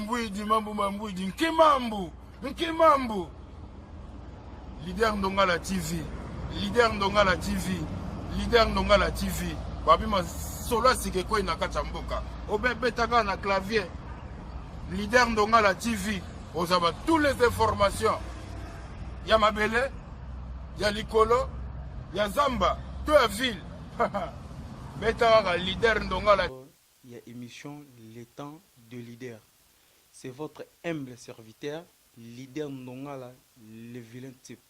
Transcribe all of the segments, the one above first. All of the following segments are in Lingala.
Mbwidi mambu mambwidi nkimambu nkimambu leader ndongala tv leader ndongala tv leader ndongala tv babima solo asika ekwei na kati ya mboka obebetaka na clavier leader ndongala tv ozaba tous les informations ya mabele ya likolo ya zamba to ya ville beta kaka leader ndongala ya emission le temps de leader c'est votre humble serviteur leader ndongala le vilain type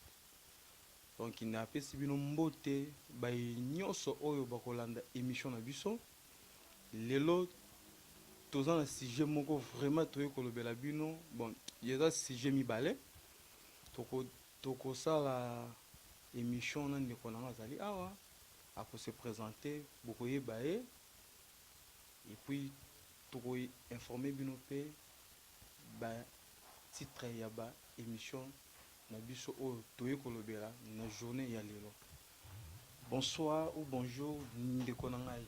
donc na pesi bino mbote baye nionso oyo bakolanda emission na biso lelo toza na sujet moko vraiment toye kolobela bino bon eza sujet mibale toko tokosala emission na ndeko na nga azali awa ako se presenter bokoyeba ye et puis toko informer bino pe ba titre ya ba emission na biso oyo toye kolobela na journee ya lelo bonsoir ou bonjour ndeko na ngai.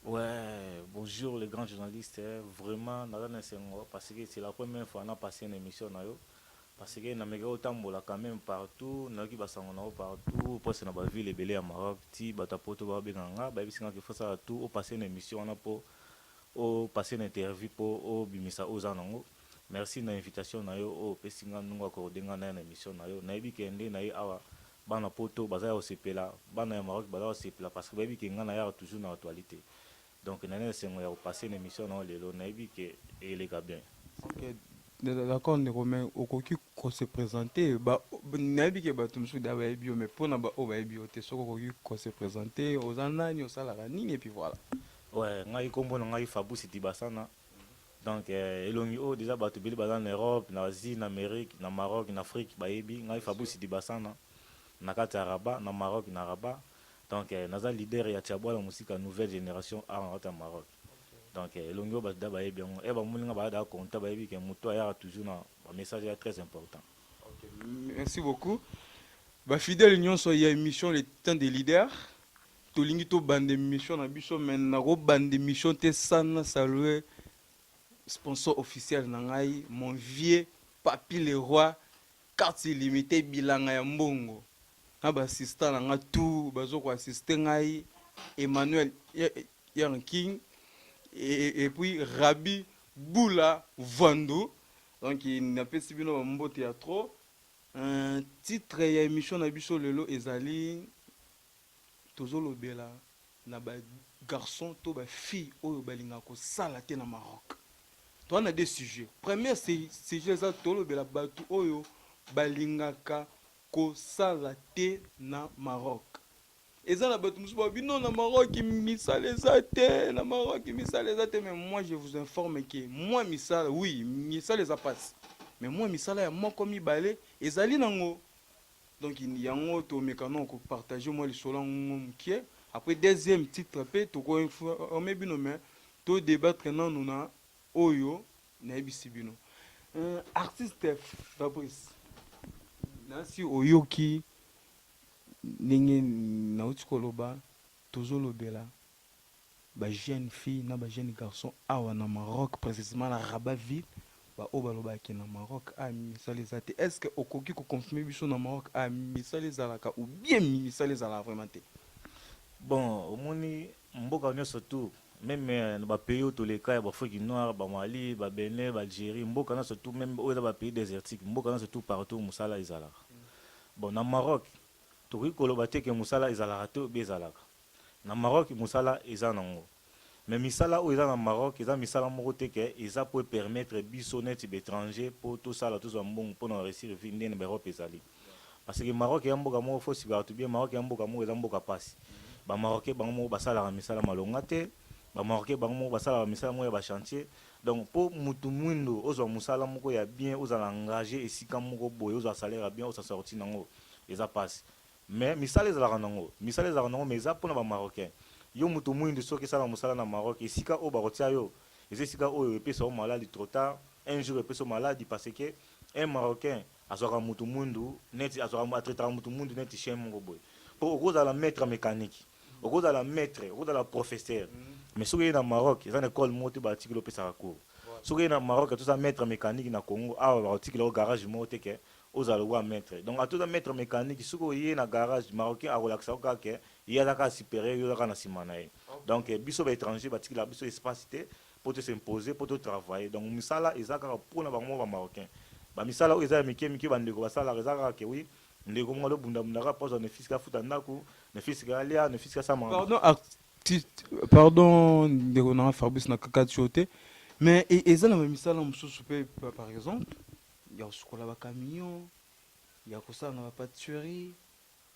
Ouais bonjour le grand journaliste vraiment naza na esengo parce que c'est la première fois na passer na emission na yo. Parce que na mekaki ko tambola quand meme partout, na yoki ba sango na yo partout, o passe na ba villes ebele ya Maroc, tii batu ya poto ba benga nga, ba yebisi nga que faut osala tout o passer na emission wana po o passer na interview po o bimisa oyo oza nango. Merci na invitation na yo oyo opesi nga ndungu o accorder nga naya na emission na yo. Na yebi que nde na ye awa bana poto baza yako sepela, bana ya Maroc baza ko sepela parce que ba yebi que nga na yaka toujours na actualite. Donc na esengo ya ko passer na emission na yo lelo nayebi que eleka bien. Ok d'accord ndeko mais okoki ko se presenter ba nayebi ke bato mosusu da bayebi yo mais mpo na baoyo bayebi yo te soki okoki ko se presenter oza nani osalaka nini et puis voilà. Ouais ngai kombo na ngai Fabrice Dibasana donc eh, elongi oyo deja bato ebele baza na Europe na Asie na Amérique na Maroc na Afrique bayebi ngai Fabrice Dibasana na kati ya Rabat na Maroc na Rabat Donc naza leader ya Tshiabwala Musika nouvelle generation awa na kati ya Maroc. Donc elongi oyo bato da bayebi yango et bamoni nga baza da content bayebi ke moto ayaka toujours na ba message ya très important. Merci beaucoup ba fidèles nyonso ya emission le temps des leaders tolingi tobanda emission na biso mais nakobanda emission te sans na salue sponsor officiel na ngai mon vieux Papy Leroy Cartes illimitees, bilanga ya mbongo na ba assistants na nga tout bazo ko assister ngai, Emmanuel Young King et puis Rabbi Bula Vuandu. Donc na pesi bino ba mbote ya trop. Titre ya emission na biso lelo ezali Tozolobela na ba garçons to ba filles oyo balingaka kosala te na Maroc. Toza na deux sujets. Premier sujet eza tolobela batu oyo balingaka kosala te na Maroc. Eza na batu mosusu balobi non na Maroc misala eza te, na Maroc misala eza te mais moi je vous informe que mua misala oui misala eza pasi mais mua misala ya moko mibale ezali nango. Donc yango to meka no ko partager moi lisolo yango mukie. Après deuxième titre pe toko informer bino mais to debattre nanu na oyo nayebisi bino. Euh, artiste Fabrice nasi oyoki ndenge nauti koloba tozolobela Ba jeunes filles na ba jeunes garçons awa na Maroc, precisement na Rabat ville, ba oyo balobaka ke na Maroc awa misala eza te, est ce que okoki ko confirmer biso na Maroc awa misala ezalaka ou bien misala ezalaka vraiment te? Bon omoni mboka nionso tout meme na ba pays oyo toleka ya ba afrique noire, ba Mali, ba Benin, ba Algerie, mboka nionso tout meme oyo eza ba pays desertiques, mboka nionso tout partout musala ezalaka. Bon na Maroc tokoki koloba te ke musala ezalaka te ou bien ezalaka. Na Maroc musala eza nango mais misala oyo eza na Maroc eza misala moko te que eza po e permettre biso neti ba etrangers po tosala tozwa mbongo pona o reussir vie nde na ba Europe ezali parce que Maroc ea mboka moko faut suivre batu bien Maroc ea mboka moko eza mboka pasi ba Marocains bango moko basalaka misala malonga te ba Marocains bango moko basalaka misala moko ya ba chantiers donc po mutu muindo ozwa musala moko ya bien ozala engager esika moko boye ozwa salaire ya bien osa sorti nango eza pasi Mais misala ezalaka nango. Misala ezalaka nango mais eza pona ba marocain. Yo mutu muindu soki esala musala na Maroc esika oyo bako tia yo eza esika oyo epesa yo maladi trop tard un jour epesa yo maladi parce que un marocain azwaka mutu muindu neti azwaka a traitaka mutu muindu neti chien moko boye po oko zala maitre mecanique oko zala maitre oko zala professeur mais soki oye na Maroc eza na ecole moko te ba tikeli opesaka cours soki oye na Maroc ata oza maitre mecanique na Congo awa bako tikela yo garage moko te ke Ozala lokola maitre donc ata oza maitre mecanique soki oye na garage marocain akolakisa yo kaka ke ye aza kaka superieur yo oza kaka na sima na ye donc biso ba etrangers batikelaka biso espace te po to s'imposer po to travailler donc misala eza kaka pona bango moko ba marocains ba misala oyo eza ya mike mike ba ndeko basalaka eza kaka ke oui ndeko moko azo bunda bunda kaka po azua ne fils ke afuta ndaku ne fils ke alia ne fils ke asala makambo Pardon arti pardon ndeko na nga Fabrice na kakati yo te mais eza na ba misala mosusu pe par exemple ya kosukola ba camion ya kosala na ba patisserie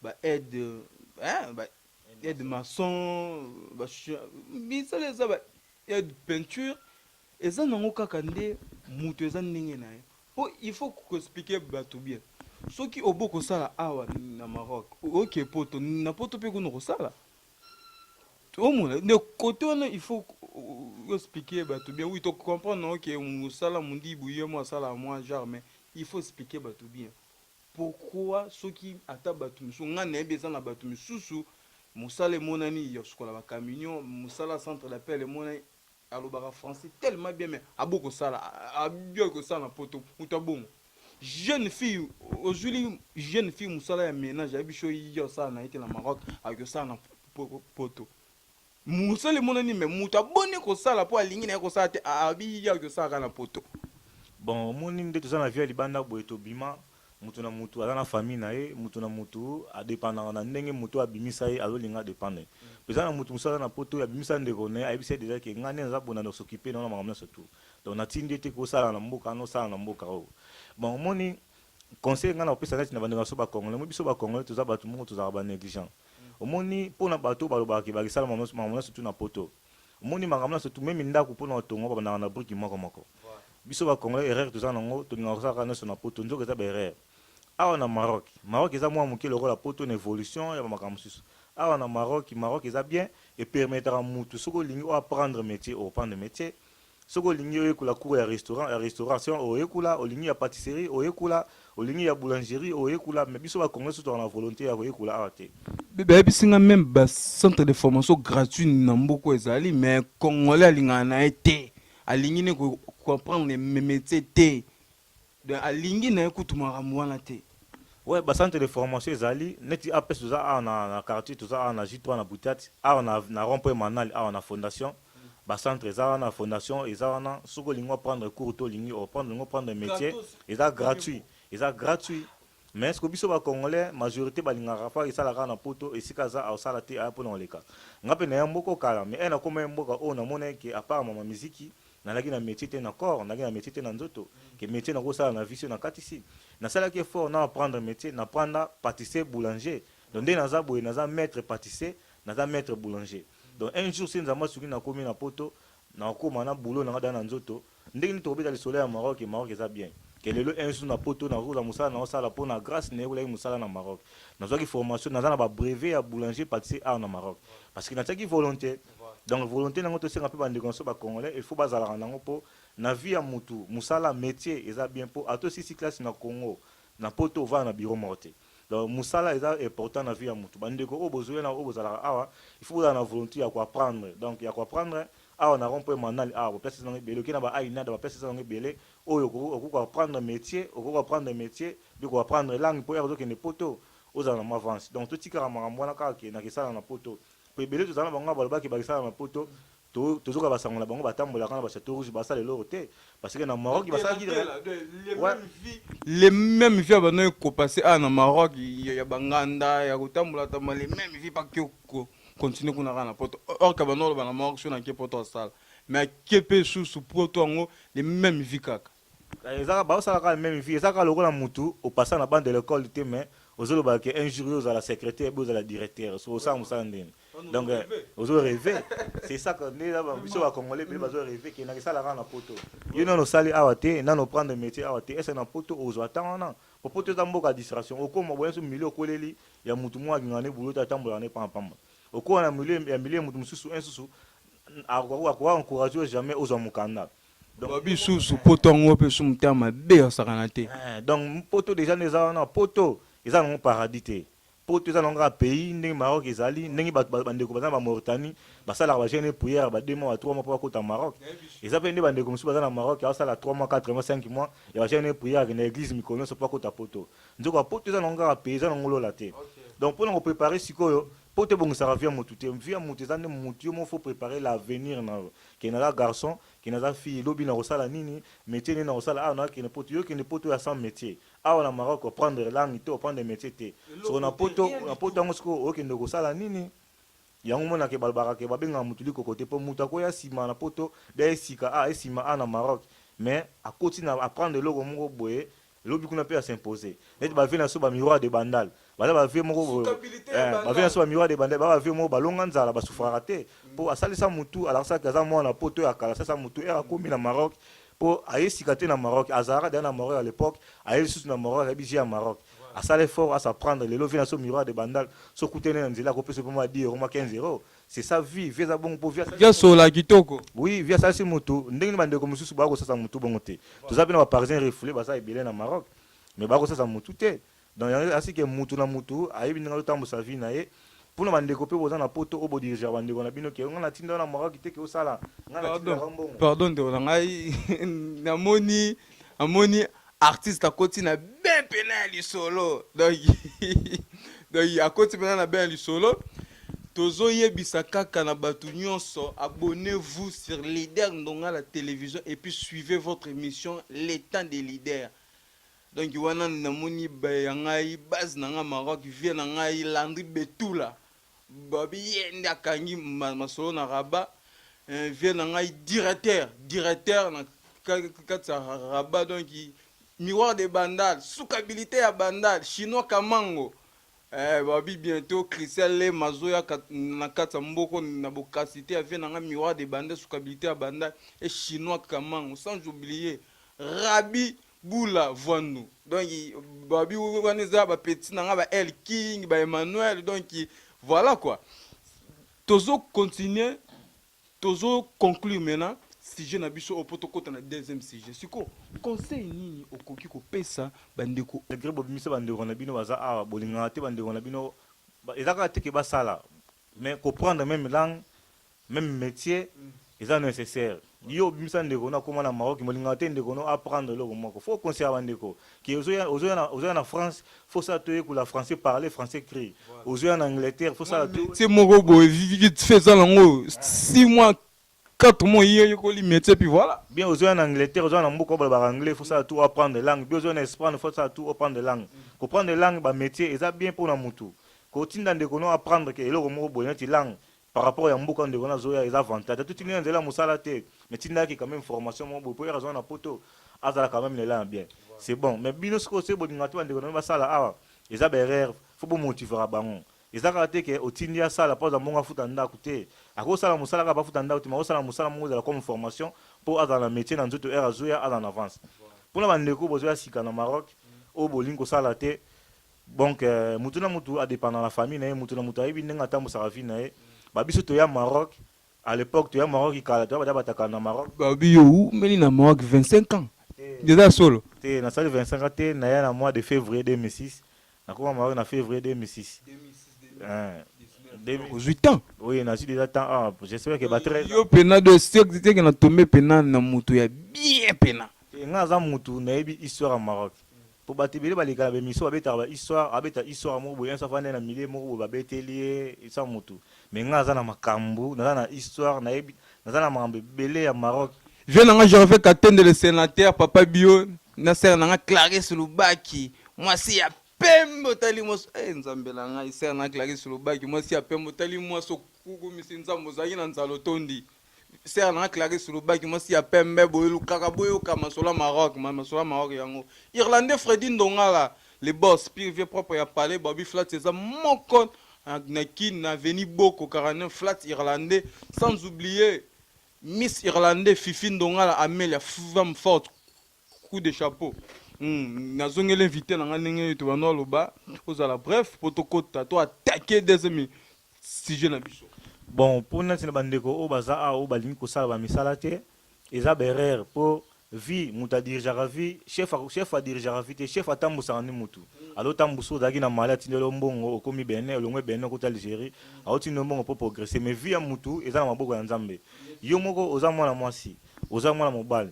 ba aide hein, ba aide maçon ba misala eza ba aide peinture eza nango kaka nde moto eza ndenge na ye mpo il faut koexplike bato bien soki obo kosala awa na maroc oke poto na poto mpe kuna okosala omona nde kote wana il faut expliquer bato bien oui tocomprendre yango ke mosala mondibu ye mo asalaka mwa genre mais il faut expliquer bato bien pourquoi soki ata bato mosusu ngai nayebi eza na bato mosusu mosala emonani ya kosukola bacamion mosala centre d'appel emonani Alobaka français tellement bien mais aboyi kosala aboyi kosala na poto mutu ya bongo jeune fille ozuili jeune fille musala ya menage ayebi sho ye osala na ye te na Maroc akoki kosala na poto musala emonani mais mutu aboni kosala po alingi na ye kosala te abi ye akoki kosala kaka na poto. Bon omoni nde toza na vie ya libanda boye tobima Mutu na mutu aza na famille na ye, mutu na mutu a dependaka na ndenge mutu oyo abimisa ye azo linga a dependre. Peza na mutu mususu aza na poto oyo abimisa ndeko naye, ayebisa ye dejà ke nga nde naza pona de s'occuper na yo na makambo nionso tout. Donc na tindi yo te ke osala na mboka wana, osala na mboka oyo. Bon omoni conseil nga nako pesa neti na ba ndeko na biso ba congolais, omoni biso ba congolais toza batu moko tozalaka ba negligents. Omoni pona batu oyo balobaka ke bake sala makambo nionso tout na poto, Omoni makambo nionso tout meme ndaku pona kotonga babandaka na brique moko moko biso ba congolais erreur toza na ngo tolingaka kosala kaka nionso na poto nzoka eza ba erreur awa na Maroc Maroc eza mua muke lokola poto na evolution ya ba makambo mosusu awa na Maroc Maroc eza bien e permetaka mutu soki olingi o apprendre metier o prendre metier Soki olingi oyekola cours ya restaurant, ya restauration oyekola, olingi ya patisserie oyekola, olingi ya boulangerie oyekola mais biso ba congolais soki tozalaka na volonte ya koyekola awa te. Bayebisi nga meme ba centre de formation gratuit na mboka ezali mais congolais alingaka naye te, alingi ne ko comprendre metier te. Donc alingi na ye kutu makambo wana te. Ouais, ba centre de formation ezali neti APS toza awa na, na quartier toza awa na J3 na Butiati awa na, na rond point Manal awa na fondation ba centre eza wana fondation eza wana soki olingi o prendre cours to olingi o prendre olingi o prendre metier eza gratuit eza gratuit Mais ce que biso ba congolais majorite balingaka fa esala kaka na poto esika aza aosala te aya pona koleka nga pe naya mboko kala mais eh nakoma ye mboka oyo namona ye ke apart mama miziki nalaki na metier te na corps nalaki na metier te na nzoto ke metier nakosala na vie soki nakatisi nasalaki effort na apprendre metier na pranda patissier boulanger donc nde naza boye naza maitre patissier naza maitre boulanger donc un jour soki nzambe asuki nakomi na poto nakokoma na boulot nanga deja na nzoto Ndenge nini tokobeta lisolo ya Maroc et Maroc eza bien que lelo un jour na poto nakoki kozwa musala nao sala po na grace nayekolaki musala na Maroc nazwaki formation naza na ba brevet ya boulanger patissier art na Maroc parce que natiaki volonte donc volonte nango tosenga pe ba ndeko naso ba congolais il faut bazalaka nango po na vie ya mutu musala metier eza bien po ata osilisi classe na Congo na poto ovanda na bureau moko te donc musala eza important na vie ya mutu ba ndeko oyo bozoya na oyo bozalaka awa il faut bozala na volonte ya ko apprendre donc ya ko apprendre Awa na rond point manal awa ba place eza nango ebele oke na ba ainada ba place eza nango ebele oyo okoki ko apprendre metier okoki ko apprendre metier puis ko apprendre langue po heure ozo kende poto ozala na mua avance donc to tikaka makambo wana kaka ke na ke sala na poto po ebele tozala na bango awa ba lobaka ke ba ke sala na poto to tozo yoka ba sango na bango ba tambolaka na ba chateau rouge ba sala eloko te parce que na Maroc ba salaki ouais le meme vie abandaki kopase awa na maroc ya banganda ya kotambola tambola le meme vie bakio continue kuna kaka na poto or kabanda oloba na moko so na ke poto asala mais ake mpe susu poto yango le même vie kaka eh, ezaka baosala kaka meme vie ezaka lokola mutu opasa na bande de l'école te mais ozoloba ke un jour yo ozala secrétaire bi ozala directeur so osala mosala ndeni donc eh, ozo reve c'est ça que nde biso ba congolais bele bazo reve ke nakisala kaka na poto yo nano osali awa te nano prendre métier awa te ese na poto ozwa temps wana Po poto eza mboka ya distraction okoma boya nso milieu okoleli ya mutu moko akingaka nde boulot te atambolaka nde pamba pamba okola na milieu ya milieu ya mutu mususu un susu akoka encourage yo jamais ozwa mukanda donc ba bisusu poto yango pe su mutema mabe ya sakana te donc poto dejà nde eza wana poto eza nango paradis te Poto eza na yango kaka pays ndenge Maroc ezali ndenge ba ba ndeko baza na ba Mauritanie ba salaka ba jeune prière ya ba deux mois ba trois mois po ba kota Maroc eza pe nde ba ndeko mususu baza na Maroc azo sala trois mois quatre mois cinq mois ya ba jeune prière akenda eglise mikolo nionso po akota poto nzoka ya poto eza na yango kaka pays eza na yango lola te donc pona ko preparer sikoyo poto ebongisaka vie ya mutu te vie ya mutu eza nde mutu yo moko faut preparer l'avenir na yo ke naza garçon ke naza fille lobi na kosala nini metier nini na kosala awa nazo kende poto yo kende poto ya sans metier Awa na Maroc ko prendre langue te, ko prendre metier te. Soko na poto, na poto yango sikoyo okende kosala nini? Yango omona ke balobaka ke babengaka mutu likoko te po mutu akoya sima na poto bia ye sika a ye sima a na Maroc mais akoti na a prendre eloko moko boye lobi kuna pe a s'imposer neti ba vieux na biso ba miroir de bandal baza bavie moko bavie na so bamiwa de banda baa bavie moko balonga nzala basufaraka te mpo mm. asalisa motu alakisaki aza mwana mpo to ya kala asalisa motu ere akomi na maroc mpo aye sika te na maroc azalaka deya na maroc ya lepoque aye lisusu na maroc ayebi vie ya maroc asala effort asa prendre lelo vie na so miroir de bandal so kutene na nzela akopesa mpe mwa 10 euro mwa 15 euro c'est ça vie vie eza bongo mpo vie sola kitoko oui vie asalisi motu ndenge ni bandeko mosusu baya kosasa motu bongo te toza mpe na baparisien refoule baza ebele na maroc mais baya kosasa motu te Donc yango asi ke mutu na mutu ayebi ndenge azotambusa vie na ye mpo na bandeko mpe boza na poto oyo bodirigea bandeko na bino ke nga na tinda yo na moraki te ke osala nga na tinda yo mbongo pardon ndeko na ngai namoni amoni artiste akoti na bien mpena ya lisolo donc donc akoti mpena na bien ya lisolo tozoyebisa kaka na bato nyonso abonnez-vous sur leader ndonga la télévision et puis suivez votre émission le temps des leaders Donc wana na moni ba ya ngai base na ngai Maroc vieux na ngai Landry Betula ba bi ye nde akangi ma, masolo na Rabat eh, vieux na ngai directeur directeur na kati ya Rabat donc miroir de Bandal sukabilite ya Bandal chinois Kamango eh, ba bi bientôt Christian le mazoya kat, na kati ya mboko na bokasi te ya vieux na ngai miroir de Bandal sukabilite ya Bandal et chinois Kamango sans oublier Rabi Bula vuandu donc babi wana eza ba petit nanga ba El King ba Emmanuel donc voilà quoi tozo continuer tozo conclure maintenant sujet na biso oyo po tokota na deuxième sujet siko conseil nini okoki kopesa ba ndeko Malgre bobimisi ba ndeko na bino baza awa bolingaka te ba ndeko na bino eza kaka te ke basala mais ko prendre meme langue Meme metier eza necessaire yo obimisa ndeko no akoma na Maroc mais olingaka te ndeko no apprendre eloko moko faut oconsidera ba ndeko que ozoya ozoya na ozoya na France faut osala to yekola français parler français ecrit ozoya na Angleterre faut osala to metier moko boye vi- vite fait eza nango 6 mois 4 mois ye oyekoli metier puis voilà bien ozoya na Angleterre ozoya na mboka oyo balobaka anglais faut osala tout apprendre langue bien ozoya na Espagne faut osala tout apprendre langue koprendre langue ba metier eza bien mpo na mutu kotinda ndeko no apprendre ke eloko moko boye neti langue par rapport ya mboka ndeko na zoya eza avantage atu tindi na nzela musala te mais tinda yaki quand même formation moko boye po yaka zonga na poto azala quand même na elana bien c'est bon mais bino sikoyo soki bolinga te ba ndeko na bino basala awa eza ba erreur faut bo motivera bango eza kaka te ke otindi asala po aza mbongo afuta ndaku te ako sala musala kaka bafuta ndaku te mais ako sala musala moko ezala comme formation po azala na metier na nzoto heure azoya aza na avance pona ba ndeko bozoya sika na Maroc oyo bolingi kosala te Donc euh, mutu na mutu a dépendre na famille na ye, mutu na mutu ayebi ndenge atambusaka vie na ye. Ba biso toya Maroc, à l'époque toya Maroc kala toya bada bataka na Maroc. Ba bi yo umeli na Maroc 25 ans. Ndeza solo. Te na sali 25 ans te na ya na mois de février 2006. Na koma Maroc na février 2006. 2006 ozwi temps oui nazwi déjà temps ah, j'espère que ba 13 yo pena de seke na tombe pena na moto ya bien pena nga aza motu nayebi histoire ya maroc Po batu ebele baleka na ba emission babetaka ba histoire abeta histoire moko boye un soir avanda ye na milieu moko boye babeteli ye sa mutu mais nga naza na makambu naza na histoire nayebi naza na makambu ebele ya Maroc Vieux na nga Gervais Katende le senateur papa bio na sœur na nga Clarisse Lubaki mwasi ya pembe otali mwasi eh nzambe na ngai sœur na nga Clarisse Lubaki mwasi ya pembe otali mwasi okukumisi nzambe ozalaki na nzala otondi Sœur na nga Clarisse Lubaki mwasi ya pembe boye lukaka boyoka masolo ya Maroc ma- masolo ya Maroc yango Irlandais Freddy Ndongala le boss pire vieux propre ya palais Bobby Flats eza moko na, na kin na avenue Boko 49 Flats Irlandais sans oublier Miss Irlandais Fifi Ndongala Amelia femme forte coup de chapeau hmm, nazongeli invité na ngai ndenge tobanda aloba ozala bref mpo tokota to atake deuxième sujet na biso bon mpo nati na bandeko oyo baza awa oyo balingi kosala bamisala te eza berere mpo vie moto adirigeaka vie chef chef adirigeaka vie te chef atambusaka ni motu alotambusa ozalaki na mali atindeli yo mbongo okomi bene olongwe bene okoti algérie aotindeli mbongo mpo progresse mais vie ya motu eza na maboko ya nzambe yo moko oza mwana mwasi oza mwana mobali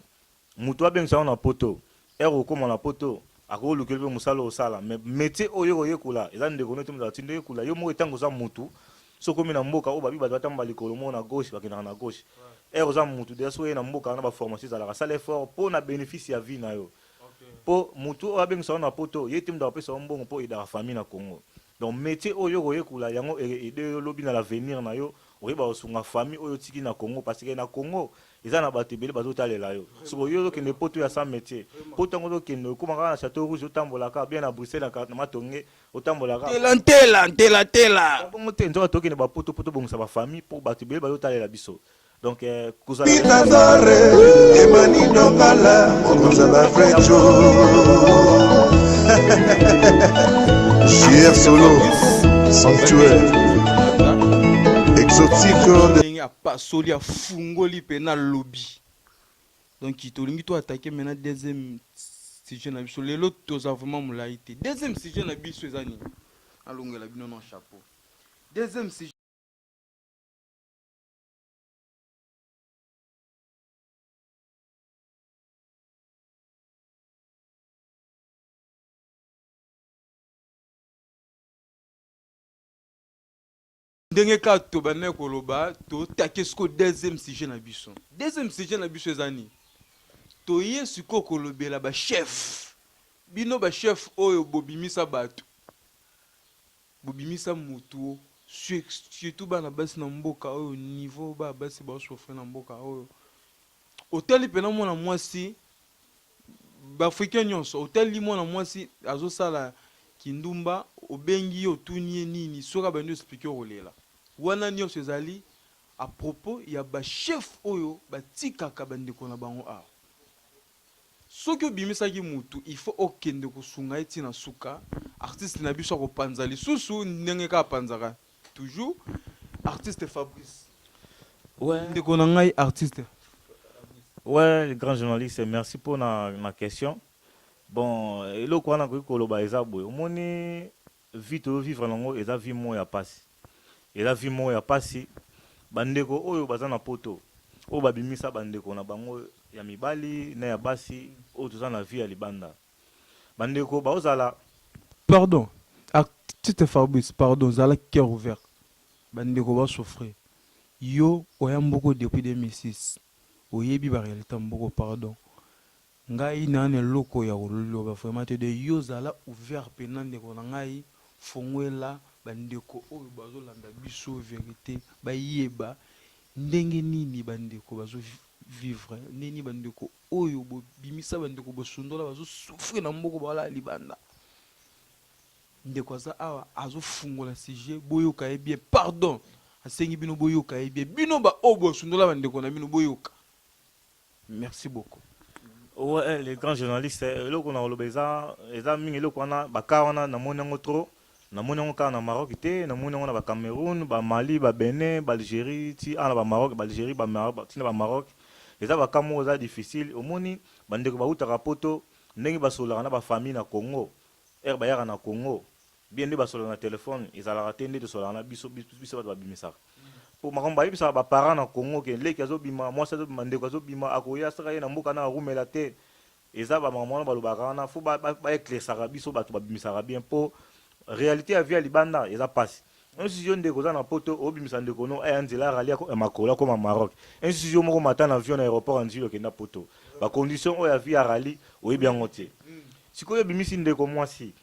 Mutu abengisa yo na poto heure okokoma na poto akoki olukela yo pe musala osala mais metier oyo oko yekola eza ndeko nayo te mutu atindi yo yekola yo moko tangu oza mutu soki okomi na mboka oyo babi batu batambola likolo moko na gauche bakendaka na gauche heure oza mutu deja soki oye na mboka wana ba formation ezalaka sala effort po na benefice ya vie nayo po mutu oyo abengisa yo na poto yete mutu akopesa yo mbongo po o aidaka famille na congo. Donc metier oyo yo okoyekola yango eke aider yo lobi na l'avenir na yo oyeba kosunga famille oyo otiki na Congo parce que na Congo eza na batu ebele bazo talela yo sikoyo yo ozo kende poto ya sans metier poto yango ozo kende okoma kaka na chateau rouge otambola kaka bien na Bruxelles na matonge otambola kaka Ntela ntela ntela tela. Eza bongo te nzoka tokende ba poto po tobongisa ba famille po batu ebele bazo talela biso donc euh, kozala pitazare emani nongala okozala vrai jo jr solo sanctuaire exotique ndenge apasoli afungoli mpe na lobi donc tolingi to attaquer maintenant deuxième sujet na biso lelo toza vraiment molai te deuxième sujet na biso eza nini alongela bino na chapeau deuxième sujet ndenge kaka tobandaki koloba totake siko deuxième sujet na biso deuxième sujet na biso eza nini toye sikoyo kolobela bachef bino bachef oyo bobimisa bato Bobimisa mutu o surtout bana basi na mboka oyo niveau bana basi bao souffrir na mboka oyo otali pena mwana mwasi ba africain nyonso otali mwana mwasi azosala kindumba obengi ye otuni ye nini soki abandi explique okolela wana nyonso ezali a propos ya ba chef oyo batikaka bandeko na bango awa Soki obimisaki mutu il faut okende kosunga ye ti na suka, artiste na biso ako panza lisusu ndenge kaka apanzaka toujours, artiste Fabrice Ouais. ndeko na ngai artiste. Ouais le grand journaliste merci pona na question bon eloko wana nakoki koloba eza boye omoni Vie tozo vivre nango eza vie moko ya pasi eza vie moko ya pasi ba ndeko oyo baza na poto oyo ba bimisa ba ndeko na bango ya mibali na ya basi oyo toza na vie ya libanda ba ndeko bao zala Pardon artiste Fabrice pardon zala cœur ouvert ba ndeko bao souffrir yo oya mboko depuis 2006 oyebi ba realite ya mboko pardon. Ngai na na eloko ya koloba vraiment te de yo zala ouvert pena ndeko na ngai fonguela ba ndeko oyo bazo landa biso verite ba yeba ndenge nini ba ndeko bazo vivre ndenge nini ba ndeko oyo bo bimisa ba ndeko bo sundola bazo souffrir na mboko ba lala libanda ndeko aza awa azo fungola sujet bo yoka ye bien pardon asengi bino bo yoka ye bien bino ba oyo bo sundola ba ndeko na bino bo yoka Merci beaucoup. Ouais, les grands journalistes, eh, eloko na koloba eza eza mingi eloko wana baka wana namoni yango trop namoni yango kaka na Maroc te namoni yango na ba Cameroun ba Mali ba Benin ba Algérie ti ana ba Maroc ba Algérie ba Maroc ba- ti na ba Maroc eza baka moko eza difficile omoni bandeko bautaka poto ndenge basololaka na bafamille na Congo ere bayaka na Congo Bien nde basolola na telephone ezalaka te nde tosolaka na biso biso batu babimisaka po makambo bayebisaka ba parents na congo ke leki azobima mwasi azobima ndeko azobima akoya saka ye na mboka na rumela te eza ba makambo wana balobaka wana faut ba eclairsaka biso batu babimisaka bien po realite ya vie ya libanda eza pasi ensusi yo ndeko oza na poto obimisa ndeko no aya nzela ya rali ya makolo akoma maroc ensusi yo moko mata na avion na aeroport ya nzili okenda poto ba condition oyo ya vie ya rali oyebi yango te sikoyo obimisi ndeko mwasi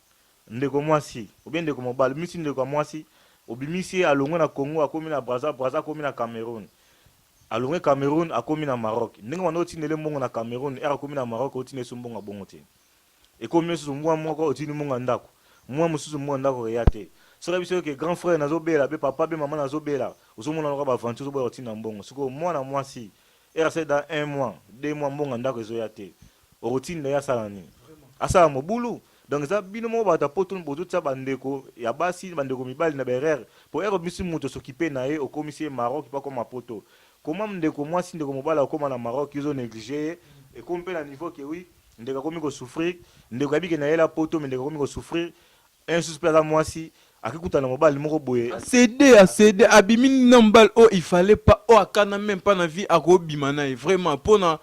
Ndeko mwasi ou bien ndeko mobali, obimisi ndeko ya mwasi, obimisi ye alongwe na Congo akomi na Brazza, Brazza akomi na Cameroun, alongwe Cameroun akomi na Maroc, ndenge obanda otindela ye mbongo na Cameroun, heure akomi na Maroc otinda ye lisusu mbongo ya bongo te, ekomi lisusu mua moko otindi mbongo ya ndaku, mua mosusu mbongo ya ndaku eya te, soki ayebi soki ke grand frère nazo bela, be papa, be maman nazo bela, ozo mona lokola ba aventure ozo boya kotinda mbongo, sikoyo mwana mwasi RC dans un mois, deux mois mbongo ya ndako ezoya te. Okotinda ye asala nini? Asala mobulu? Donc eza bino moko bato ya poto bozotia ba ndeko ya basi, ba ndeko mibali na ba erreurs. Po heure obimisi moto s'occuper na ye, okomisi ye Maroc pe akoma poto. Comment ndeko mwasi, ndeko mobali akokoma na Maroc yo ozo negliger ye? Ekomi pe na niveau que oui, ndeko akomi ko souffrir, ndeko ayebi que nayela poto mais ndeko akomi ko souffrir. Heure mosusu mpe aza mwasi ake kutana na mobali moko boye. A ceder, a ceder, abimi na mobali oyo il fallait pas, oyo akana meme pas na vie ako bima na ye vraiment pona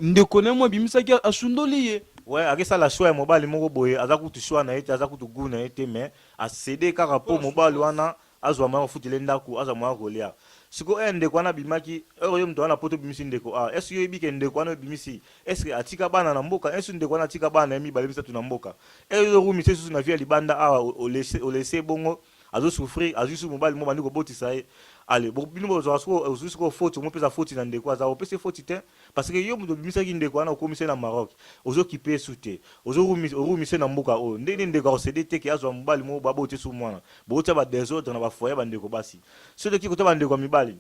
ndeko na ye mwa abimisaki ye, asundoli ye. Ouais ake sala choix ya mobali moko boye aza kutu choix na ye te, aza kutu gout na ye te mais a ceder kaka po mobali wana azua moyen kofutela ye ndaku azua moyen ya kolia sikoyo heure ndeko wana abimaki heure yo mutu aza na poto obimisi ndeko awa est ce que oyebi ke ndeko wana obimisi est ce que atika bana na mboka est ce ndeko wana atika bana na ye mibale misatu na mboka heure ozo rumisa ye susu na vie ya libanda awa o laisse o laisse ye bongo azo souffrir azui susu mobali moko obandi kobotisa ye allez bo bino bozuaka sikoyo ozui sikoyo foti omopesa foti na ndeko aza opesi ye foti te Parce que yo mutu obimisaki ndeko wana okomisi ye na Maroc, ozo kipe ye su te, ozo rumi, o rumise na mboka oyo, ndenge nini ndeko ako ceder te ke azwa mobali moko ba boti su mwana? Boko tia ba desordre na ba foyer ya ba ndeko basi. Soki toke kotia ba ndeko ya mibali,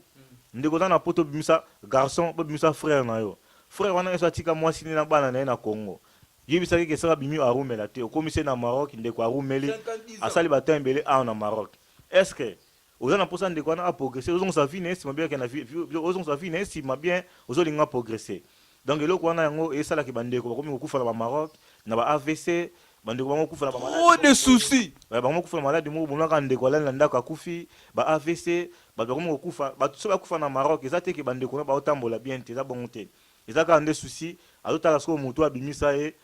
ndeko oza na poto obimisa garçon, bo bimisa frère na yo, frère wana esso atika mwasi ne na bana na ye na Congo, yebisa ye ke soki abimi a rumela te, okomisi ye na Maroc, ndeko a rumeli, asali ba temps ebele awa na Maroc, est ce que Oza na posa ndeko wana a progresser ozo zongisa vie na ye sima bien akenda vie ozo zongisa vie na ye sima bien ozo linga a progresser donc eloko wana yango e sala ke ba ndeko ba komi ko kufa na ba Maroc na ba avc ba ndeko bango kufa na ba malade trop de soucis ba bango kufa na malade moko bomona kaka ndeko alali na ndaku akufi ba avc batu ba komi ko kufa batu soki ba kufa na Maroc eza te ke ba ndeko na ba otambola bien te eza bongo te eza kaka nde soucis azo tala sikoyo mutu oyo abimisa ye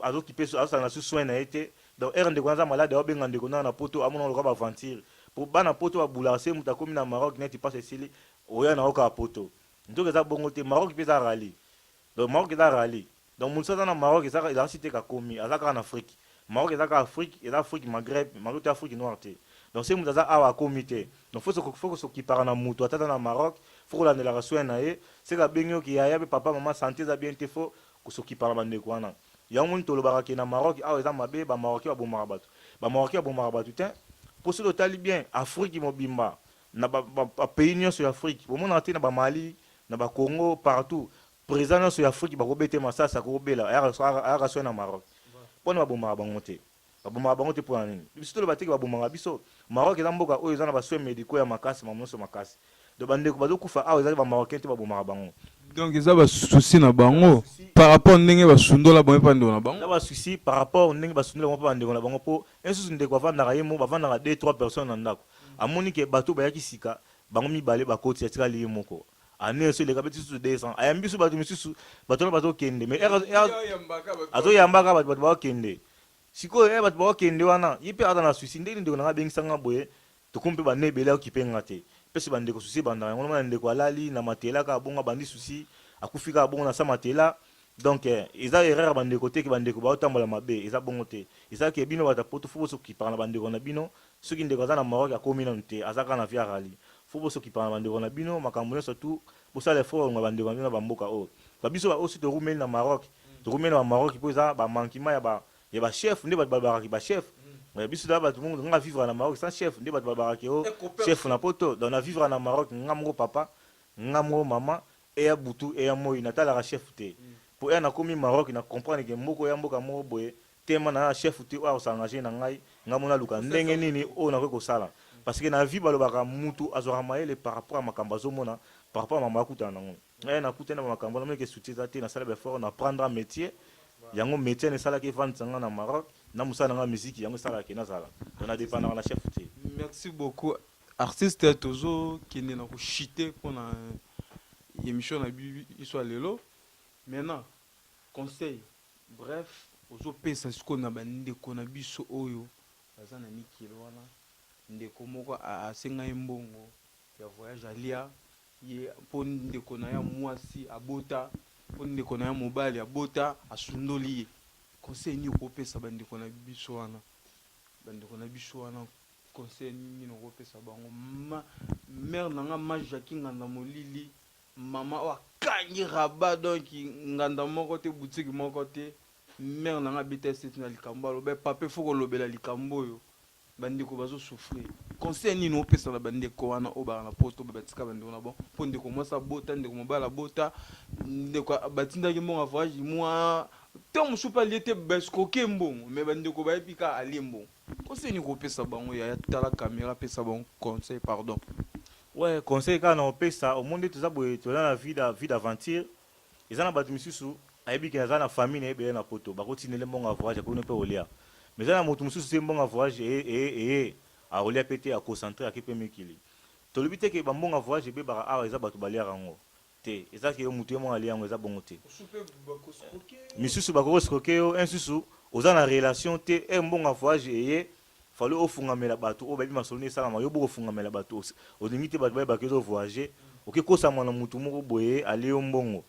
azo kipe azo sala na su soin na ye te donc heure ndeko wana aza malade azo benga ndeko na na poto amona lokola ba aventure po bana poto ba boulaka se mutu akomi na Maroc neti pasi esili oya na yo kaka poto nzoka eza bongo te Maroc pe eza rally donc Maroc eza rally donc mutu soki aza na Maroc eza elakisi te ke akomi aza kaka na Afrique Maroc eza kaka Afrique eza Afrique Maghreb Maghreb to Afrique noire te donc se mutu aza awa akomi te donc faut faut ko s'occupaka na mutu ata aza na Maroc faut kolandelaka soin na ye seke abengi yo ke yaya pe papa maman sante eza bien te faut Kosokipa na bandeko wana yango omoni tolobaka ke na Maroc awa eza mabe ba marocain babomaka batu ba marocain babomaka batu tein po soki otali bien afrique mobimba na ba ba pays nionso ya afrique bomonaka te na ba mali na ba congo partout president nionso ya afrique bakobete masasi akobela ayaka ayaka soin na maroc pona babomaka bango te. Babomaka bango te pona nini? Biso toloba te ke babomaka biso. Maroc eza mboka oyo eza na ba soins medicaux ya makasi makambo nionso makasi. Donc ba ndeko bazo kufa awa eza te ba marocains te babomaka bango. Donc eza ba soucis na bango par rapport ndenge ba sundola bango epa ndeko na bango? Eza ba soucis par rapport ndenge ba sundola bango epa ba ndeko na bango po un susu ndeko avandaka ye moko bavandaka deux trois personnes na ndaku amoni ke batu oyo bayaki sika bango mibale bakoti atikali ye moko. annee oyo eleka beti susu 200 ayambi biso bato misusu bato wana bazokende mais azoyambaka bato bato bakokende sikoyo ya bato bakokende wana ye mpe aza na susi ndenge ndeko nanga abengisa nga boye tokomi mpe bande ebele akokipe nga te mpese bandeko susi ebandaka yango nomana ndeko alali na matela kaka bongo abandi susi akufi kaka bongo na sa matela donc eh, eza erreur ya bandeko te ke bandeko baotambola mabe eza bongo te eza ke bino bato ya poto fo bosokipaka na bandeko na bino Soki ndeko aza na Maroc akomi nanu te aza kaka na via rally faut bo sokipana ba ndeko na bino makambu nionso tout bosala effort ba lunga ba ndeko na bino na ba mboka oyo ba biso ba osi to rumeli na Maroc to rumeli na ba Maroc po eza ba manquement ya ba ya ba chef nde batu ba lobaka ke ba chef mais biso toza batu moko nga vivre na Maroc sans chef nde batu ba lobaka ke oh chef na poto donc na vivre na Maroc nga moko papa nga moko maman eya butu eya moyi na talaka chef te po heure na komi Maroc na comprendre ke mboka oya mboka moko boye Tema na ya chef te oyo ako s'engager na ngai, ngai moko naluka ndenge nini oyo nakoki kosala parce que na vie balobaka mutu azwaka mayele par rapport ya makambu azomona par rapport ya makambu akutana na ngo. Ngai nakutani na ba makambu wana meme que soutien eza te nasala ba efforts na prendre metier yango metier wana esalaki evandisa ngai na Maroc na musala na ngai ya miziki yango esalaka que nazala donc na dependaka na chef te. Merci beaucoup artiste tozo kende na ko chute pona emission na biso ya lelo maintenant Conseil bref ozo pesa sikoyo na ba ndeko na biso oyo baza na mikili wana ndeko moko asenga ye mbongo ya voyage alia ye po ndeko na ye ya muasi abota po ndeko na ye mobali abota asundoli ye conseil nini oko pesa ba ndeko na biso wana ba ndeko na biso wana conseil nini oko pesa bango ma mère na nga ma Jackie nganda molili Maman oyo akangi rabat donc nganda moko te boutique moko te mère na nga abeta sete na likambo aloba eh papa il faut kolobela likambo oyo ba ndeko bazo souffrir conseil nini opesa na ba ndeko wana oyo baka na poto ba tika ba ndeko na bango po ndeko mwasi abota ndeko mobali abota ndeko batindaki mbongo ya voyage mwa temps mosusu pe alie te ba escroquer mbongo mais ba ndeko bayebi kaka alie mbongo conseil nini kopesa bango yaya tala camera pesa bango conseil pardon Ouais conseil kaka nako pesa omoni nde toza boye toza na vie da vie d'aventure eza na batu misusu ayebi ke aza na famille naye ebele na poto bako tinda ye mbongo ya voyage akoki no pe kolia mais eza na mutu mususu te mbongo ya voyage eye eye eye akolia pe te a concentre ake pe mikili tolobi te ke ba mbongo ya voyage ebebaka awa eza batu baliaka yango te eza ke yo mutu ye moko alie yango eza bongo te misusu bakoki escroquer yo un susu oza na relation te heure mbongo ya voyage eye fallait ofungamela bato oyo bayebi masolo nde esalama yo boko fungamela bato olingi te bato bayebaka ezo voyage oke kosama na mutu moko boye alie yo mbongo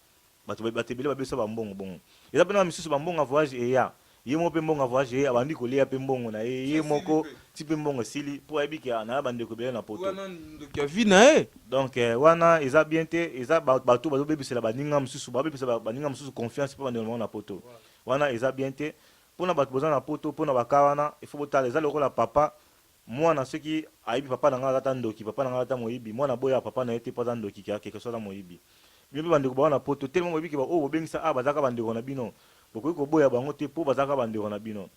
bato bato ebele babesa ba mbongo bongo eza pena misusu ba mbongo ya voyage eya Ye moko pe mbongo ya voyage naye abandi kolia pe mbongo naye ye moko ti pe mbongo esili po ayebi ke naye ba ndeko ebele na poto. Wana ndoki ya vie naye. Donc wana eza bien te eza ba batu bazo bebisela baninga mususu ba bebisa ba baninga mususu confiance pe ba ndeko na bango na poto wana eza bien te pona batu boza na poto pona ba cas wana il faut botala eza lokola papa Muana soki ayebi papa na nga aza ata ndoki papa na nga aza ata moyibi muana aboyaka papa na ye te po aza ndoki ke quelque soit aza moyibi bino pe ba ndeko ba wana poto tellement boyebi ke ba oyo bobengisa awa bazalaka ba ndeko na bino bokoki koboya bango te po bazalaka ba ndeko na bino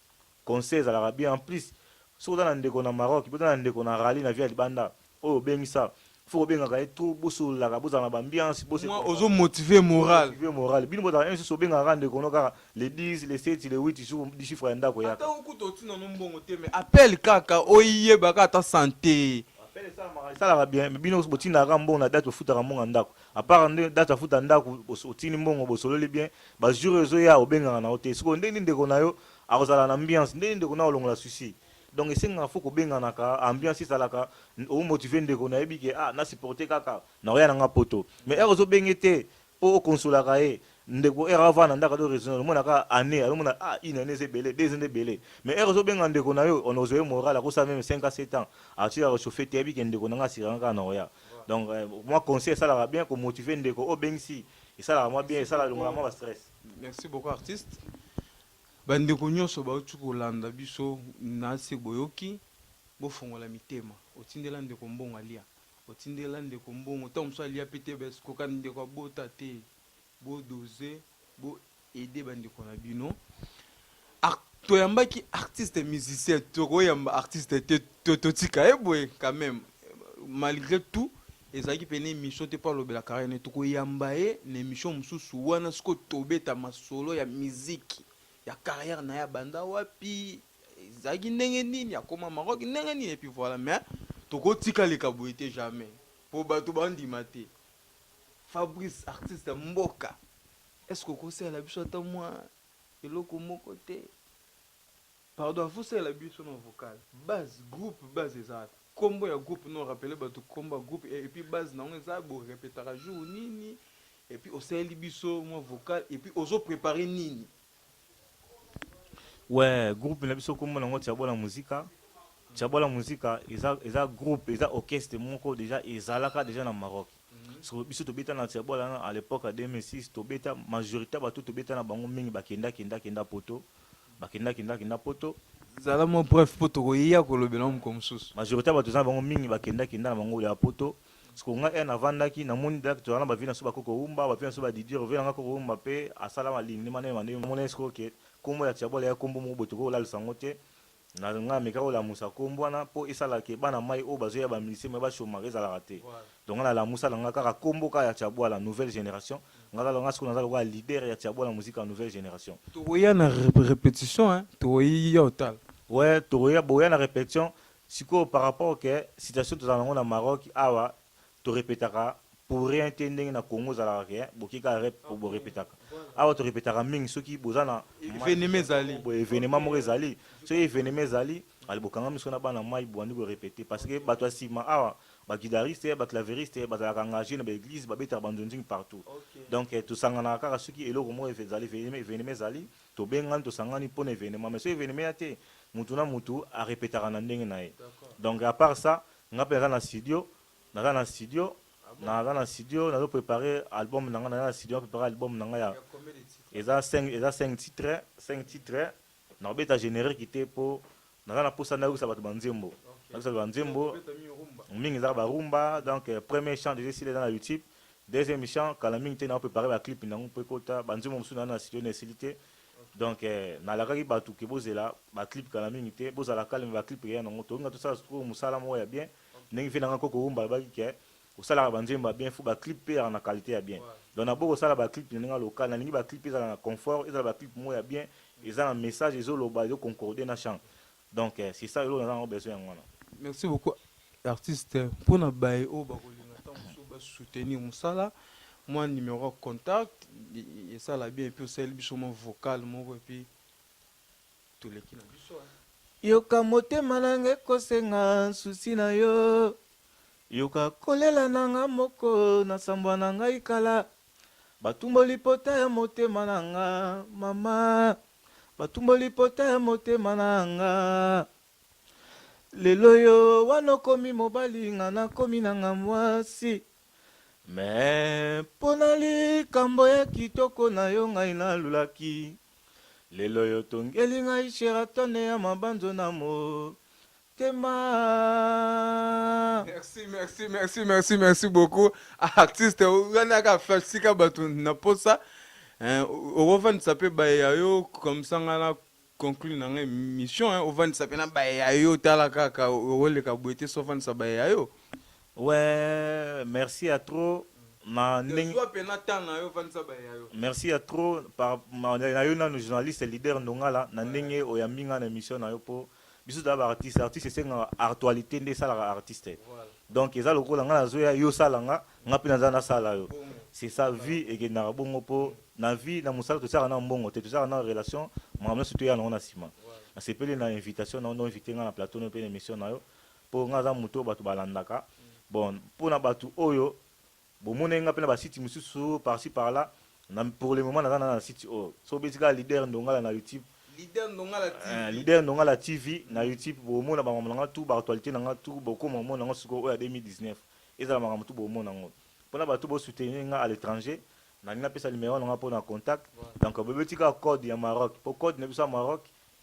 conseil ezalaka bien en plus soki oza na ndeko na Maroc pe oza na ndeko na Rally na vie ya libanda Oyo obengi sa faut kobengaka ye trop bosololaka bozala na ba ambiance bose Moi ozo motive moral. motive moral bino bozalaka heure misusu obengaka kaka ndeko no kaka le 10 le 7 le 8 jour du chiffre ya ndako eyaka Ata yo kutu otii na no mbongo te mais appel kaka oyeba kaka ata sante. Appel esalamaka esalaka bien mais bino botindaka kaka mbongo na date ofutaka mbongo ya ndako à part nde date afuta ndako os otindi mbongo bosololi bien ba jour ezoya obengaka na yo te sikoyo ndenge nini ndeko na yo akozala na ambiance ndenge nini ndeko na yo alongola soucis Donc esengaka faut kobenganaka ambiance ezalaka o motive ndeko nayebi ke ah na supporter kaka na oya na nga poto mais heure ozo benge te po o consolaka ye ndeko heure ava na ndaka do raisonner omona ka année alomona ah une année eza ebele deux ans ebele mais heure ozo benga ndeko na yo on ozo ye moral akosa meme 5 à 7 ans atira rechauffer te yebi ke ndeko na nga asiranga kaka na oya donc euh, moi conseil esalaka bien ko motiver ndeko o bengisi esalaka moi bien esala longola moi ba stress merci beaucoup artiste Bandeko nyonso bauti kolanda biso na se boyoki, bofongola mitema. Otindela ndeko mbongo alia. Otindela ndeko mbongo tango mosusu alia pe te parce que kokani ndeko abota te. Bo doser, bo aider bandeko na bino. Ar toyambaki artiste musicien, tokoyamba artiste te to totika ye boye quand meme malgre tout Ezalaki pene emission te po alobela carrière naye toko yamba ye na emission mususu wana sikoyo tobeta masolo ya musique ya carrière naye abanda wapi ezalaki ndenge nini akoma Maroc ndenge nini epuis voila mais toko tika aleka boye te jamais po batu ba ndima te Fabrice artiste ya mboka est ce que oko salela biso ata mua eloko moko te. Pardon il faut osalela biso na vocal base groupe base eza wapi kombo ya groupe no rappeler batu kombo ya groupe et puis base na yango eza bo repetaka jour nini et puis osaleli biso mwa vocal et puis ozo preparer nini. Ouais groupe na biso kombo na yango Tshiabola Musica Tshiabola Musica eza eza groupe eza orchestre moko dejà ezalaka dejà na Maroc. Sikoyo biso tobeta na Tshiabwala na à l'epoque ya 2006 tobeta majorite ya bato tobeta na bango mingi bakenda kenda kenda poto bakenda kenda kenda poto Zala mwa bref mpo tokoya kolobela yango mokolo mosusu. majorite ya bato toza na bango mingi bakenda kenda na bango ya poto sikoyo ngai heure navandaki namoni dak tozala na ba vie na biso ba koko wumba ba vie na biso ba didier ovela nga koko wumba mpe asala malindi ma ndenge ma ndenge omoni sikoyo ke nkombo ya Tshiabwala eya nkombo moko boye tokoki kolalisa yango te Na nga na meka ko lamusa kombo wana po esala ke bana mayi oyo bazo ya ba musiciens mais ba chomaka ezalaka te donc nga na lamusa na nga kaka kombo kaka ya tshabuala nouvelle generation nga kaka nga sikoyo naza lokola leader ya tshabuala musique ya nouvelle generation. Toko ya na repetition hein toko ya otala. Ouais toko ya boya na repetition sikoyo par rapport ke situation tozala na ngo na Maroc awa To repetaka pour rien te ndenge na Congo ezalaka ke bo ke kaka rep po bo repetaka. Awa to repetaka mingi soki boza na Evenema ezali. Boye evenema moko ezali soki evenema ezali ale bo kangami sikoyo na bana mayi bo bandi ko repeter parce que batu ya sima awa ba guidaristes, ba claveristes bazalaka engager na ba eglises ba betaka ba nzonzing partout donc to sanganaka kaka soki eloko moko ezali evenema ezali to bengani to sangani pona evenema mais soki evenema eya te mutu na mutu a repetaka na ndenge naye donc apart ça nga pe naza na studio Naza na studio naza na studio nazo preparer album na nga naza na studio na preparer album na nga ya eza 5 eza 5 titre 5 titre na obeta generique te po naza na posa na yokisa bato ba nzembo na yokisa ba nzembo mingi eza ba rumba donc euh, premier chant déjà sila eza na YouTube deuxième chant kala mingi te na preparer ba clip na ngo pe kota ba nzembo mosusu na na studio na esili te donc euh, na lakaki bato ke bozela ba clip kala mingi te bozala calme ba clip ya na ngo tolinga tosala sikoyo mosala moko ya bien ndenge vie nanga koko wumba alobaki ke osalaka ba nzembo ya bien faut ba clip pe ezala na qualite ya bien donc na boko sala ba clip na ndenge ya local na lingi ba clip ezala na confort ezala ba clip moko ya bien eza na message ezo loba ezo concorde na chant donc c'est ça eloko naza nango besoin yango wana. Merci beaucoup artiste pona baye oyo bako linga tango mosusu ba soutenir musala mua numero ya contact esala bien epuis osaleli biso mua vocal moko epuis Yoka motema na nga ekosenga souci na yo Yoka kolela na nga moko na sambwa na ngai kala Batumboli pota ya motema na nga mama Batumboli pota ya motema na nga Lelo yo wana okomi mobali nga nakomi na nga mwasi Mais pona likambo ya kitoko na yo ngai nalulaki Lelo y'otongeli ngai Sheraton ya mabanzo na motema. Merci, merci, merci, merci, merci beaucoup. Ah, artiste, wana ka fashi ka batu na posa. Hein, ovandisa pe baye ya yo comme ça nga na conclure na nga émission hein, ovandisa pe na baye ya yo tala kaka oleka boye te so ovandisa baye ya yo. Weeh merci ya trop na ndenge Zua pena temps na yo vandisa baye ya yo. Merci ya trop par ma na yo nanu journaliste leader ndongala na ndenge oyambi nga na emission na yo po biso toza ba artiste artiste esengaka artualite nde esalaka artiste Voilà. donc eza lokola nga nazo ya yo osala nga nga pe naza nasala yo Bongo. c'est ça vie ekendaka bongo po na vie na musala totiaka nanu mbongo te totiaka nanu relation makambo nionso toya nango na sima Voilà. nasepeli na invitation na yo na invite nga na plateau na yo pe na emission na yo Po nga naza mutu oyo batu balandaka bon pona batu oyo bomonaki nga pe na ba site misusu par ci par là na pour le moment naza na na site oyo soki obeti kaka leader ndongala na youtube Leader ndongala TV eh leader ndongala TV na youtube bomona ba mambo na nga tout ba actualite na nga tout bokoma komona yango sikoyo oyo ya 2019 ezala makambo tout bomona yango pona batu bo soutenir nga à l'etranger nalingi napesa numero na nga pona contact donc bobeti kaka code ya Maroc po code na biso ya Maroc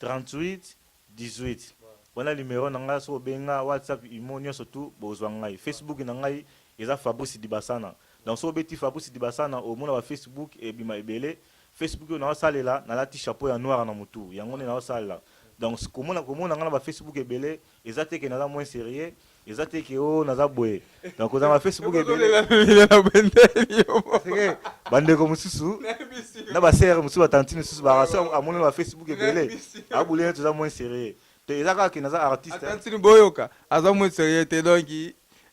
38 18 wana numero na nga soki obenga whatsapp imo nionso tout bokozua ngai Facebook na ngai eza Fabrice Dibasana donc soki obeti Fabrice Dibasana omona ba Facebook ebima ebele Facebook oyo nazo salela nalati chapeau ya noir na mutu yango nde nazo salela donc komona komona nga na ba Facebook ebele eza te ke naza moins serieux eza te ke o oh, naza boye donc oza na facebook ebele bandeko mosusu na basere mosusu batantine mosusu barasi amoni na facebook ebele abuli neti oza moins serieux te eza kaka ke naza artiste tantine boyoka aza moins serieux te donc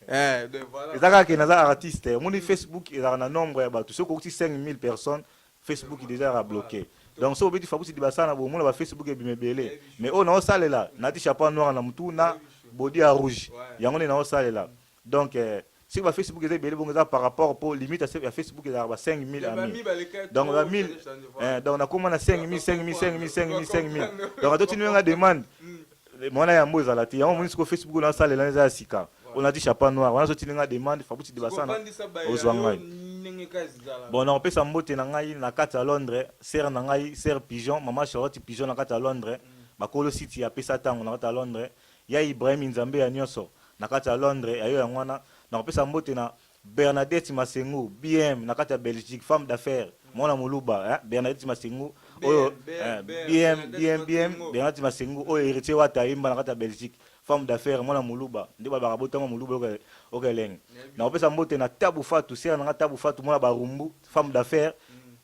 eh, eza kaka ke naza artiste omoni facebook ezalaka na nombre ya bato soki okokisi 5000 personnes Facebook dejà ezalaka bloque donc soki obeti Fabrice Dibassa na bomona ba Facebook ebima ebele mais oyo nao salela nati chapeau noir na mutu na body ya rouge yango nde nao salela donc eh, soki ba Facebook eza ebele bongo eza par rapport po limite ya Facebook ezalaka ba 5000 amis donc ba 1000 eh, donc nakoma na 5000 5000 5000 5000 5000 donc atotini nga demande Mwana yambo ezala te. Yango moni siko Facebook na salela eza ya sika. On a dit chapeau noir. Wana so tilinga demande fabuti dibasana. Ozwa ngai. Bon na opesa mbote na ngai na kati ya Londres, sœur na ngai, sœur Pigeon, maman Charlotte Pigeon na kati ya Londres. Bakolo site ya pesa tango na kati ya Londres. Ya Ibrahim Nzambe ya nioso na kati ya Londres ya yo yango wana. Na opesa mbote na Bernadette Masengu, BM, na kati ya Belgique, femme d'affaires, mwana muluba, hein, Bernadette Masengu, oyo, hein, BM, BM, BM, Bernadette Masengu, oyo Heritier Wata ayemba na kati ya Belgique, femme d'affaires, mwana muluba, nde balobaka abotama muluba, oyoka, oyoka elengi. Nakopesa mbote na Tabu Fatu, sœur na nga Tabu Fatu, mwana Barumbu, femme d'affaires,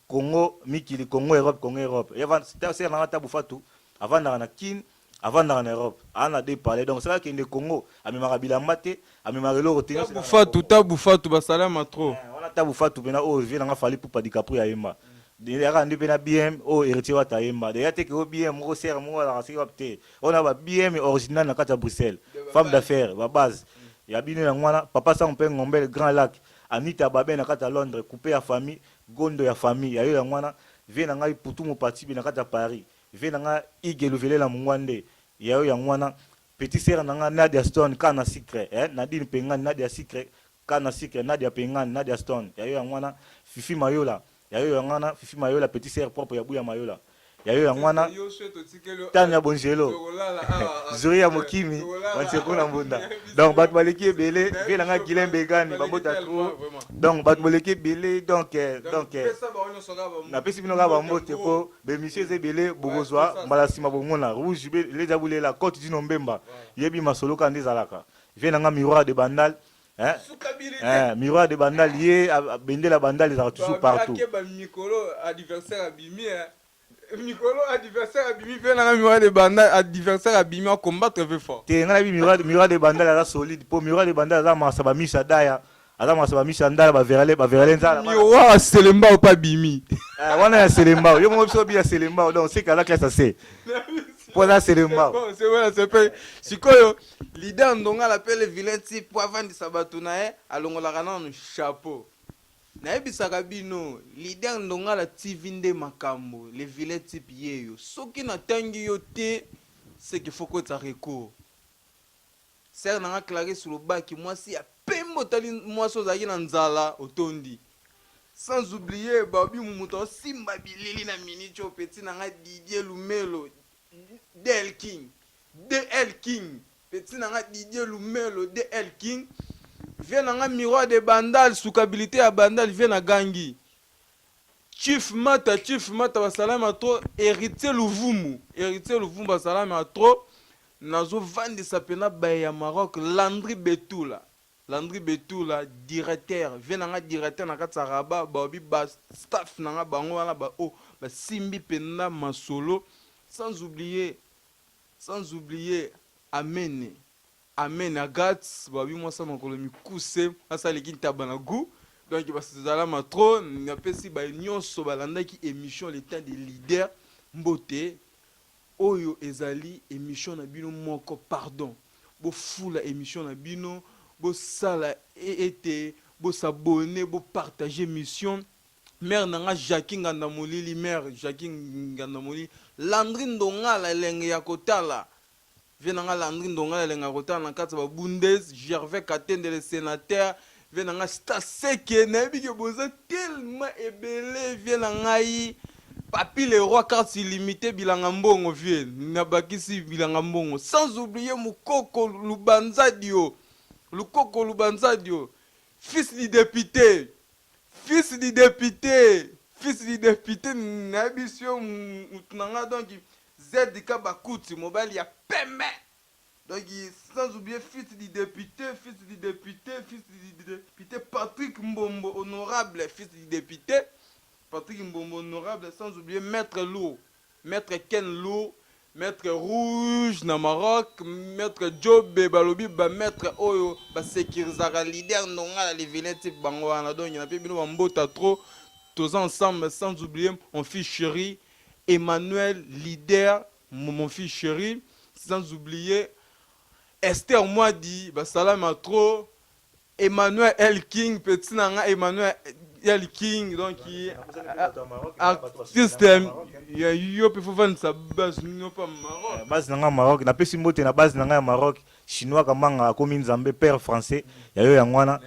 Congo mikili, Congo Europe, Congo Europe, ye avanda, sœur na nga Tabu Fatu, avandaka na Kin, Avandaka na Europe a na deux palais donc soki akende Congo amemaka bilamba te amemaka eloko te. Tabu fatu tabu fatu ba salama trop. Eh, wana tabu fatu pena oyo vie nanga fali pupa dicaprio ya yemba yaka nde pena bm oyo heritier wata yemba deja teke o bm moko serre moko alaka soki wapi te ona ba bm original na kati ya bruxelles femme d'affaires ba base ya bino yango wana papa sango mpe ngombele grand lac anita babe na kati ya londres coupe ya famille gondo ya famille ya yo yango wana vie na ngai putu mopatibe na kati ya paris Vie na nga Hugues Luvelela Mungwande ya yo yango wana Petit sœur na nga Nadia Stone Cas na sucre eh Nadine Pengane Nadia sucre Cas na sucre Nadia Pengane Nadia Stone ya yo yango wana Fifi Mayola ya yo yango wana Fifi Mayola Petit sœur propre ya Buya Mayola ya yo yango wana Tanya Bongelo Zuria Mokimi Wanseku na Mbunda Donc bato baleki ebele Vie na nga Guylain Begani Bambota trop Donc bato boleki ebele Donc eh, donc eh, napesi bino kaka bambote po Ba emission eza ebele bokozwa mbala sima bomona rouge be leja bulela cote du nombemba yebi masolo kaka nde ezalaka vie na nga miroir de bandal hein hein miroir de bandal ye bendela bandal ezalaka toujours partout ke ba mikolo adversaire abimi hein mikolo adversaire abimi vie na nga miroir de bandal adversaire abimi a combattre vie fort te nga na bi miroir miroir de bandal aza solide po miroir de bandal aza masa ba misa daya aza mwasa ba miso ya ndala ba verale ba verale nzala bana- yo wa selembao pa bimi Eh, wana ya selembao yo moko biso bi ya selembao donc seke aza classe ya se mpo aza selembao Bon, c'est voilà, c'est pe- sikoyo lide ya ndongala mpe le vilain ti mpo avandisa bato na ye alongolaka nano chapeau nayebisaka bino lide ya ndongala tv nde makambo le vilain type yeyo soki natangi yo te seke fokotisa recours Sœur na nga Clarisse olobaki mwasi ya pembe otali mwasi ozalaki na nzala otondi sans oublier Barbie Mumutu aosimba bilili na minute oyo petit na nga Didier Lumelo DL King DL King petit na nga Didier Lumelo DL King Vieux na nga Miroir de Bandal sukabilite ya Bandal Vieux na gangi Chief mata chief mata ba salama trop heritier luvumu heritier luvumu ba salama trop nazo vandisa pena baye ya Maroc landry betula landry betula directeur vie na nga directeur na kati ya rabat ba obi ba staff na nga bango wana ba oyo ba simbi pena masolo sans oublier sans oublier amene Amen Agathe babi mwasa makolo mikuse mwasa aleki ntaba na gout donc basalama trop napesi baye nyonso balandaki émission le temps des leaders mbote oyo ezali émission na bino moko pardon bofula émission na bino bosala e- ete bosabone bopartage émission mère na nga jacqui nganda molili mère jacqui nganda molili landri ndongala elenge ya kotala Vieux na nga Landry Ndonga na lengaka kotala na kati ya ba Bundes, Gervais Katende le senateur, vieux na nga Staseke na yebi ke boza tellement ebele vieux na ngai Papy le roi cartes illimitee bilanga mbongo vieux na bakisi bilanga mbongo sans oublier Mukoko Lubanzadio Lukoko Lubanzadio fils du depute fils du depute fils du depute na yebi sio mutu na nga donc ZK Bakuti mobali ya pembe donc sans oublier fils du depute fils du depute fils du depute Patrick Mbombo honorable fils du depute Patrick Mbombo honorable sans oublier maitre lourd maitre Ken lourd maitre rouge na Maroc maitre Jobe balobi ba maitre oyo ba securisaka leader Ndongala le vilain type bango wana donc na pe bino ba mbota trop toza ensemble sans oublier mon fils cherie Emmanuel leader mon fils cheri sans oublier Esther Mwadi ba salama trop Emmanuel El King petit na nga Emmanuel El King donc artiste ya yo pe faut vandisa base no pa Maroc base na nga Maroc na pesi mbote na base na nga ya Maroc chinois kamanga akomi nzambe père français ya yo yango wana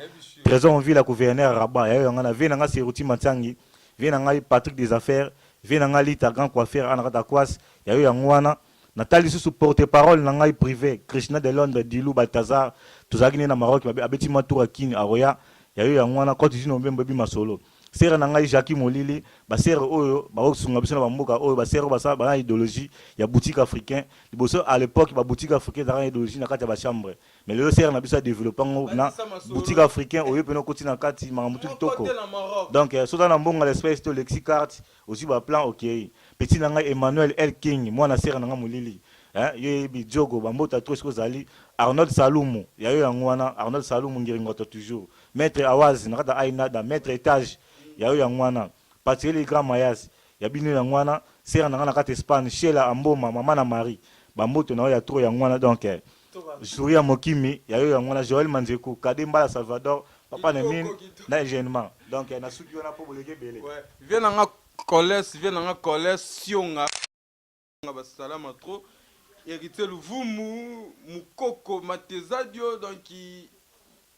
Trésor Mvila gouverneur Rabat ya yo yango wana vie na nga Seruti Matiangi Vieux na ngai Patrick des affaires, vieux na ngai Lita grand coiffeur awa na kati ya Kwasi, ya yo yango wana. Na tali lisusu porte parole na ngai prive, Krishna de Londres, Dilu, Balthazar, tozalaki nde na Maroc, abeti mua tour ya Kin, akoya, ya yo yango wana, Cote d'Ivoire mobembo ebi masolo. Sœur na ngai Jacquie Molili, ba sœurs oyo bako sunga biso na ba mboka oyo, ba sœurs oyo basala baza na ideologie ya boutique africain, liboso à l'epoque ba boutiques africains ezalaka na ideologie na kati ya ba chambres. mais lelo sere na biso adeveloppe yango na boutique africain oyo mpena okoti na kati makambo tu kitoko donc eh, soza na mbongo l'espèce to lexi carte ozwi baplan okei petit na ngai emmanuel el king mwana sere na ngai molili eh, yo yebi diogo bambota tro esiko ozali arnold salumu ya yo yango wana arnold salumu ngiringoto toujours maître awazi na kata ainada maître etage ya yo yango wana patieli grand mayasi Ya bino yango wana sœur na nga na kati Espagne Shela Amboma maman na Marie ba mbote na yo ya trop yango wana donc jour ya mokimi ya yo yango wana Joël Manzeku Cadet Mbala Salvador papa na mine na Eugènement donc na suki wana po boleki ebele. Vieux na nga Coles vieux na nga Coles Sionga. nga ba salama trop Heritier Luvumu Mukoko Matezadio donc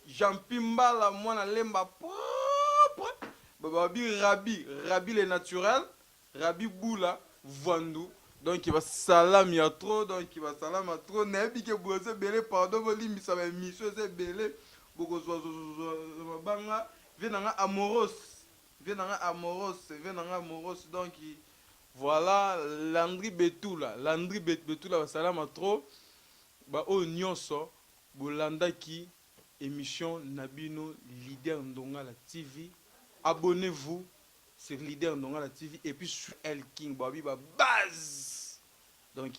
Jean Pimbala mwana lemba propre babi Rabi Rabi le naturel Rabi Bula Vwandu donc ba salami ya trop donc ba salama trop nayebi ke boza ebele pardon bolimbisa ba emission eza ebele bokozwa mabanga vie na nga amoros vie na nga amoros vie na nga amoros donc Voilà Landry Betula Landry bet Betula ba salama trop ba oyo nionso bo landaki emission na bino leader ndongala TV abonnez vous sur leader ndongala TV et puis sur El King ba bi ba buzz donc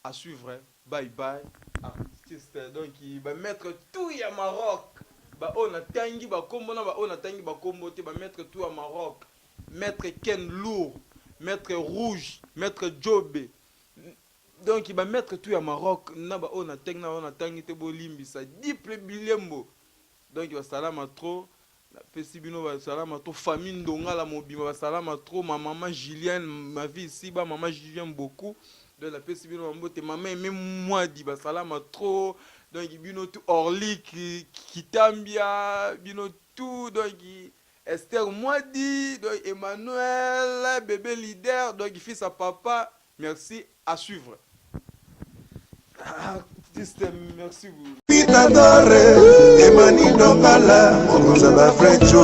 A suivre bye bye artistes donc ba maitre tout ya Maroc ba oyo na tangi ba kombo na ba oyo na tangi ba kombo te ba maitre tout ya Maroc maitre Ken lourd maitre rouge maitre djobe donc ba maitre tout ya Maroc na ba oyo na tangi na ba oyo na tangi te bo limbisa dipple bilembo donc ba salama trop Na pesi bino ba salama trop famille ndongala mobimba ba salama trop ma maman Julienne ma vie ici ba maman Julienne beaucoup donc na pesi bino ba mbote maman aime mwadi ba salama trop donc bino tout orlik kitambia bino tout donc Esther mwadi donc Emmanuel bebe leader donc fils à papa Merci à suivre artiste merci vous Peter Dore Emani Nongala Mokonza ba Frecho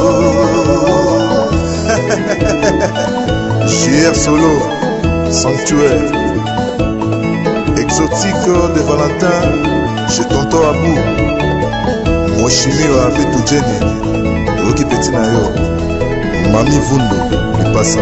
JR Solo Sanctuaire Exotique de Valentin Chez Tonton Abou Moshimi wa Betu Jenny Oki Petit Nayo Mami Vundo Lipasa